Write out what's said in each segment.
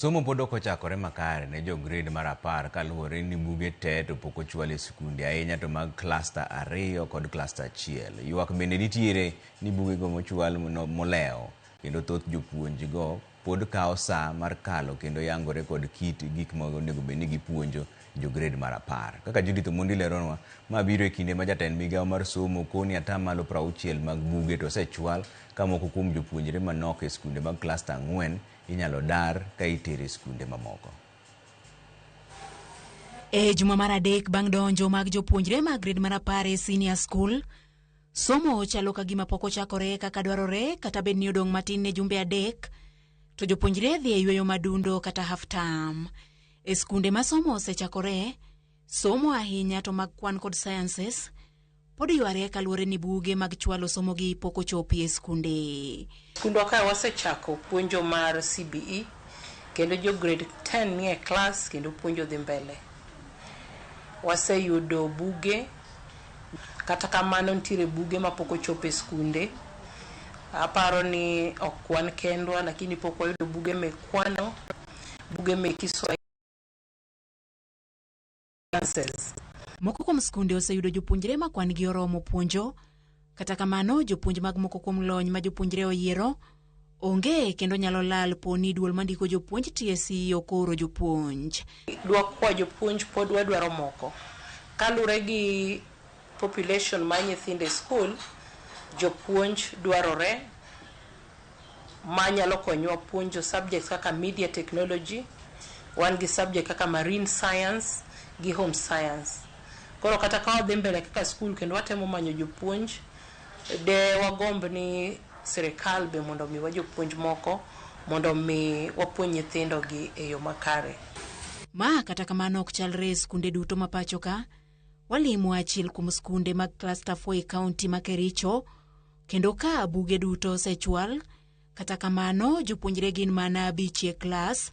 Somo pod ok ochakore makare ne jo grade mar apar kaluwore ni buge te to pok ochwal e sikunde ahinya to mag cluster ariyo kod cluster achiel. Ywak bende nitiere ni bugego mochwal molewo kendo thoth jopuonj go pod kawo saa mar kalo kendo yangore kod kit gik ma onego bed ni gipuonjo jo grade mar apar. Kaka Judith Omondi leronwa, ma biro e kinde ma jatend migawo mar somo koni ni atamalo prauchiel mag buge to osechwal ka moko kuom jopuonjre manok e skunde mag klasta ang'wen inyalo dar ka itero e skunde mamoko. E juma mar adek bang' donjo mag jopuonjre mag grade mar apar e senior school, somo chalo ka gima pok ochakore kaka dwarore kata bed ni odong' matin ne jumbe adek to jopuonjre dhi e yueyo madundo kata half term. E skunde ma somo osechakoree, somo ahinya to mag kwan kod sciences, pod yware kaluwore ni buge mag chwalo somogi pok ochopi e skunde. Skundwa kae wasechako puonjo mar CBE kendo jo grade ten nie klas kendo puonjo dhi mbele. Waseyudo buge, kata kamano nitiere buge ma pok ochopo e skunde. Aparo ni ok wan kendwa lakini pok wayudo buge mek kwano. buge meki Swahili Sciences. Moko kuom skunde oseyudo jopuonjre ma kwan-gi oromo puonjo. Kata kamano, jopuonj mag moko kuom lony ma jopuonjre oyiero onge kendo nyalo lal po ni duol mandiko jopuonj TSC ok ooro jopuonj. Dwakwa jopuonj pod wadwaro moko. Kalure gi population mar nyithindo e skul, jopuonj dwarore. ma nyalo konyowa puonjo subjects kaka media technology, wan gi subject kaka marine science gi home science. Koro kata ka wadhi mbele kaka skul kendo watemo manyo jopuonj, de wagomb ni sirikal be mondo omiwa jopuonj moko mondo omi wapuonj nyithindogi e yo makare. Ma kata kamano ok chalre e skunde duto ma pachoka. Walimo achiel kuom skunde mag Cluster 4 e kaunti ma Kericho kendo ka buge duto osechwal, kata kamano jopuonjre gin mana abich e klas.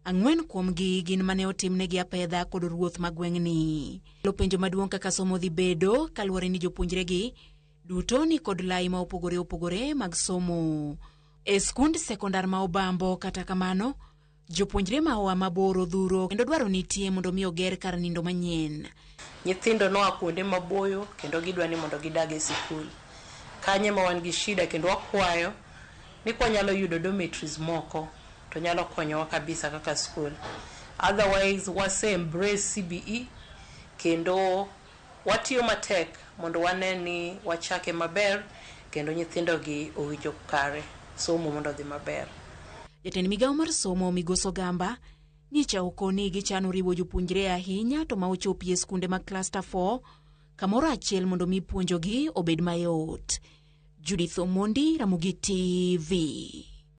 Ang'wen kuomgi gin mane otimnegi apedha kod ruoth ma gweng'ni. Lo penjo maduong' kaka somo dhi bedo kaluwore ni jopuonjregi duto ni kod lai ma opogore opogore mag somo. E skund sekondar ma Obambo kata kamano Jopuonjre ma oa mabor odhuro kendo dwaro nitie mondo mi oger kar nindo manyien. Nyithindo noa kuonde maboyo kendo gidwa ni mondo gidag e sikul. Kanyo ema wan gi shida kendo wakwayo ni kwa nyalo yudo dormitories moko to nyalo konyowa kabisa kaka skul. Otherwise wase embrace CBE kendo Watiyo matek mondo wane ni wachake maber kendo nyithindogi owinjo kare somo mondo odhi maber. Jatend migao mar somo Migosi Ogamba nyicha okoni gichano riwo jopuonjre ahinya to ma ochopie skunde mag cluster four kamoro achiel mondo mi puonjogi obed mayot. Judith Omondi, Ramogi TV.